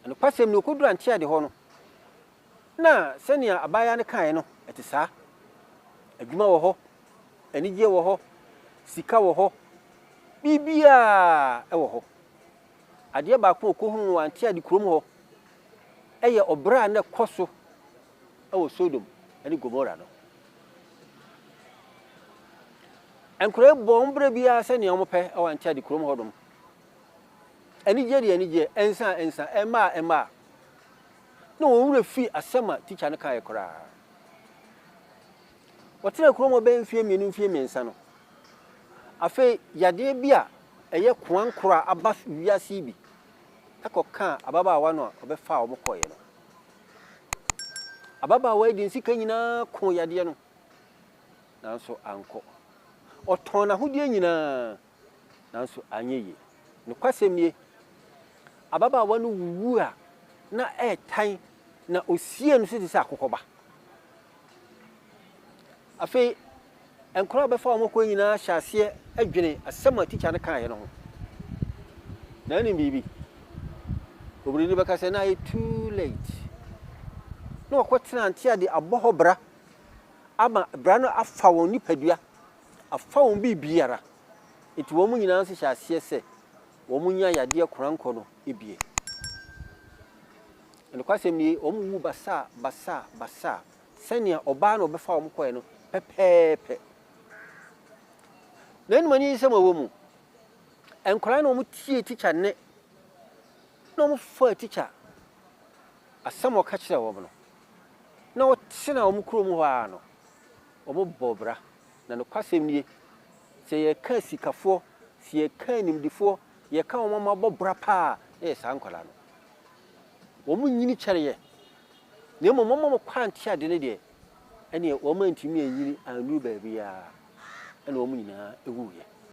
Nokwasɛm ni, okodur Antiade hɔ no, na sɛnea abaayewa no kae no, ɛte saa. Adwuma wɔ hɔ, anigye wɔ hɔ, sika wɔ hɔ, biribiara wɔ hɔ. Adeɛ baako a okohuu wɔ Antiade kurom hɔ yɛ ɔbra a na ɛkɔ so wɔ Sodom ne Gomora no. Nkuraa yi bɔ wɔn bra biara sɛnea wɔpɛ wɔ Antiade kurom hɔnom. anigyeɛ de anigyeɛ, nsa a nsa, mma a mma a, na wɔn werɛ firi asɛm a tikya no kaeɛ koraa. Wɔtenaa kurom hɔ bɛyɛ mfeɛ mmienu, mfeɛ mmiɛnsa no, afei yadeɛ bi a ɛyɛ koankorɔ a aba wiase yi bi kɔkaa ababaawa no a ɔbɛfaa wɔn kɔeɛ no. Ababaawa yi de ne sika nyinaa koo yadeɛ no, nanso ankɔ. Ɔtɔn n'ahodeɛ nyinaa, nanso anyɛ yie. Nokwasɛm nie, ababaawa no wuwuu a na ɛretan na osiee no so te sɛ akokɔba. Afei nkwadaa a wɔbɛfa wɔn akɔ nyinaa hyɛ aseɛ dwene asɛm a tikya no kaeɛ no ho. Na anim biribi. Obiri no bɛka sɛ na ayɛ too late. Na wɔkɔtena nte ade abɔ hɔ bra ama bra no afa wɔn nipadua afa wɔn biribiara. Enti wɔn nyinaa nso hyɛɛ aseɛ sɛ wɔnya yadeɛ korankɔ no bie. Na nokwasɛm nie, wɔwuu basaa basaa basaa, sɛnea ɔbaa na ɔbɛfaa wɔn kɔeɛ no pɛpɛɛpɛ. Na ɛnum aniyisɛm a ɛwɔ mu, nkwadaa no wɔtiee tikya nne, na wɔfaa tikya asɛm a ɔka kyerɛɛ wɔn no, na wɔtenaa wɔn kurom hɔ ara no. Wɔbɔ bra. Na nokwasɛm nie, sɛ yɛka asikafoɔ, sɛ yɛka animdefoɔ, yɛka wɔn a wɔabɔ bra paa a, na ɛyɛ saa nkwadaa no. Wɔnyini kyɛre yɛn, na mmom wɔn a wɔkɔ anteadeɛ no deɛ, ɛnneɛ wɔantumi anyini annuru baabiara, ɛnna wɔn nyinaa wuiɛ.